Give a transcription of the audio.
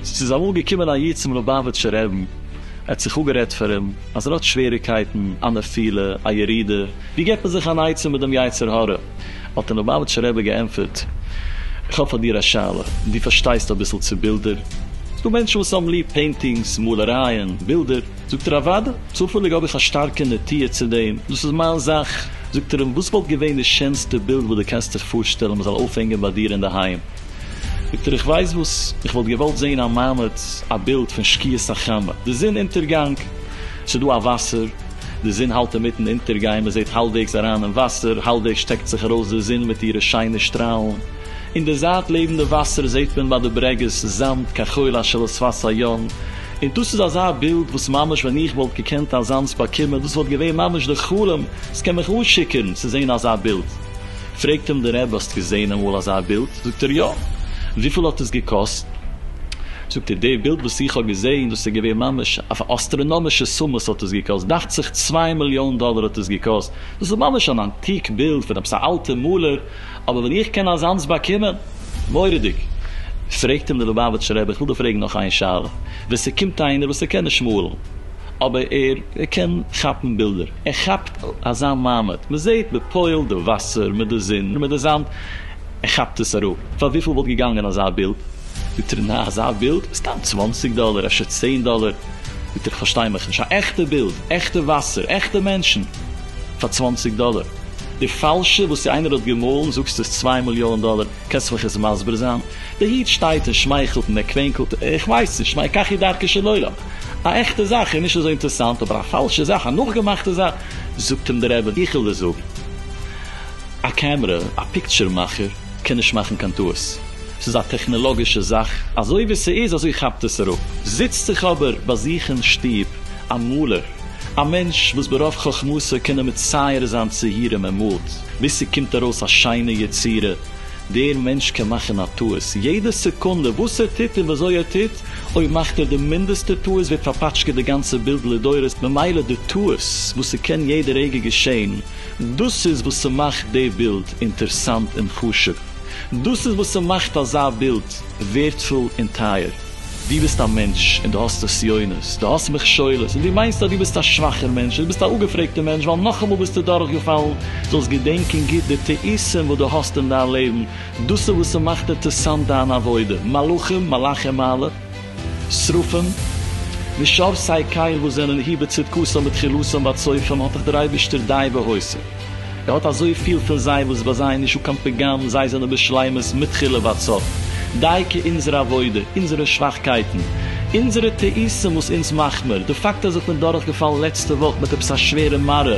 ס'איז אמאל געקומען א איד צום לובאוויטשער רעבן, ער האט זיך אפגערעדט פאר אים אז ער האט שוועריקייטן, א נפילה, א ירידה, ווי געבט מען זיך אן עצה מיט דעם יצר הרע? האט דער ליובאוויטשער רבי געענטפערט, איך האב פאר דיר א שאלה, דו פארשטייסט אביסל צו בילדער? ס'דא מענטשן וואס האבן ליב פעינטינגס, מאלערייען, בילדער. זאגט ער, אוודאי, צופעליג האב איך א שטארקע נטיה צו דעם, דאס איז מיין זאך. זאגט ער אים, וואס וואלט געווען די שענסטע בילד וואס דו קענסט זיך פארשטעלן מ'זאל אויפהענגען ביי דיר אינדערהיים? זאגט ער, איך ווייס וואס, איך וואלט געוואלט זען א מעמד, א בילד פון שקיעת החמה, די זון אונטערגאנג, ס'דא א וואסער, די זון האלט אינמיטן אונטערגיין, מען זעט האלבוועגס אריין אין וואסער, האלבוועגס שטעקט זיך ארויס די זון מיט אירע שיינע שטראלן, אין די זייט לעבן די וואסער זעט מען ביי די ברעגעס זאמד כחול אשר על שפת הים, און דאס איז אזא בילד וואס ממש ווען איך וואלט געקענט אזאנס באקומען דאס וואלט געווען ממש די חלום, ס'קען מיך אנשיקערן צו זען אזא בילד. פרעגט אים דער רבי האסט געזעהן אמאל אזא בילד? זאגט ער יא. וויפיל האט עס געקאסט? זאגט ער די בילד וואס איך האב געזעהן דאס איז געווען ממש אויף א אסטראנאמישע סומעס האט עס געקאסט, דאכט זיך צוויי מיליאן דאלער האט עס געקאסט, דאס איז ממש אן אנטיק בילד פון עפעס א אלטע מאלער, אבער ווען איך קען אזאנס באקומען? מורא'דיג! פרעגט אים דער ליובאוויטשער רבי איך וויל דיר פרעגן נאך איין שאלה, ווען ס'קומט איינער וואס ער קען נישט מאלן אבער ער קען כאפן בילדער, ער כאפט אזא מעמד, מען זעהט בפועל די וואסער מיט די זון מיט די זאמד, ער כאפט עס אראפ, פאר וויפיל וואלט געגאנגען אזא בילד? זאגט ער, נעה אזא בילד? סתם צוואנציג דאלער אפשר צען דאלער, זאגט ער, איך פארשטיי מיך נישט, א עכטע בילד, עכטע וואסער, עכטע מענטשן, פאר צוואנציג דאלער? די פאלשע וואס צו איינער האט געמאלן זאגסטו איז צוויי מיליאן דאלער, קענסט מיך עס מסביר זיין? די איד שטייט און שמייכלט און ער קווענקלט, איך ווייס נישט, מה אקח את דרכו של עולם? א עכטע זאך איז נישט אזוי אינטערסאנט, אבער א פאלשע זאך, א נאכגעמאכטע זאך, זאגט אים דער רבי, איך וויל דיר זאגן, א קעמרע, א פיקטשער מאכער, קען נישט מאכן קיין טעות, ס'איז א טעכנעלאגישע זאך, אזוי ווי ס'איז אזוי כאפט עס אראפ. זיצט זיך אבער ביי זיך אין שטוב א מאלער, א מענטש וואס ברוב חכמתו קען ער מצייר זיין ציורים, ער מאלט ביז ס'קומט ארויס א שיינע יצירה, דער מענטש קען מאכן א טעות יעדע סעקונדע, וואס ער טוט און ווי אזוי ער טוט, אויב מאכט ער די מינדעסטע טעות ווערט פארפאטשקעט די גאנצע בילד לדורות, ממילא די טעות וואס ס'קען יעדע רגע געשען, דאס איז וואס ס'מאכט די בילד אינטערסאנט און חשוב, דאס איז וואס ס'מאכט אזא בילד ווערדפול און טייער. דו ביסט א מענטש און דו האסט נסיונות, דו האסט מכשולות, און דו מיינסט אז דו ביסט א שוואכער מענטש, און דו ביסט א אפגעפרעגטער מענטש ווייל נאכאמאל ביסטו דורכגעפאלן, זאלסט געדענקען גוט די טעותים וואס דו האסט אין דיין לעבן, דאס איז וואס ס'מאכט אינטערסאנט דיין עבודה, מלאכים, מלאכי מעלה, שרפים, ושאר סיי קייל וואס זענען הי בצדקתם בתחילתם ועד סופם האט דיך דער אייבערשטער די והוסיף, ער האט אזויפיל פון זיי וואס ביי זיי איז נישטא קיין פגם, זיי זענען בשלימות מתחילה ועד סוף, דייקא אונזער עבודה, אונזערע שוואכקייטן, אונזערע טעותים וואס אונז מאכמער, די פאקט אז איך בין דורכגעפאלן לעצטע וואך מיט עפעס א שווערע מרה,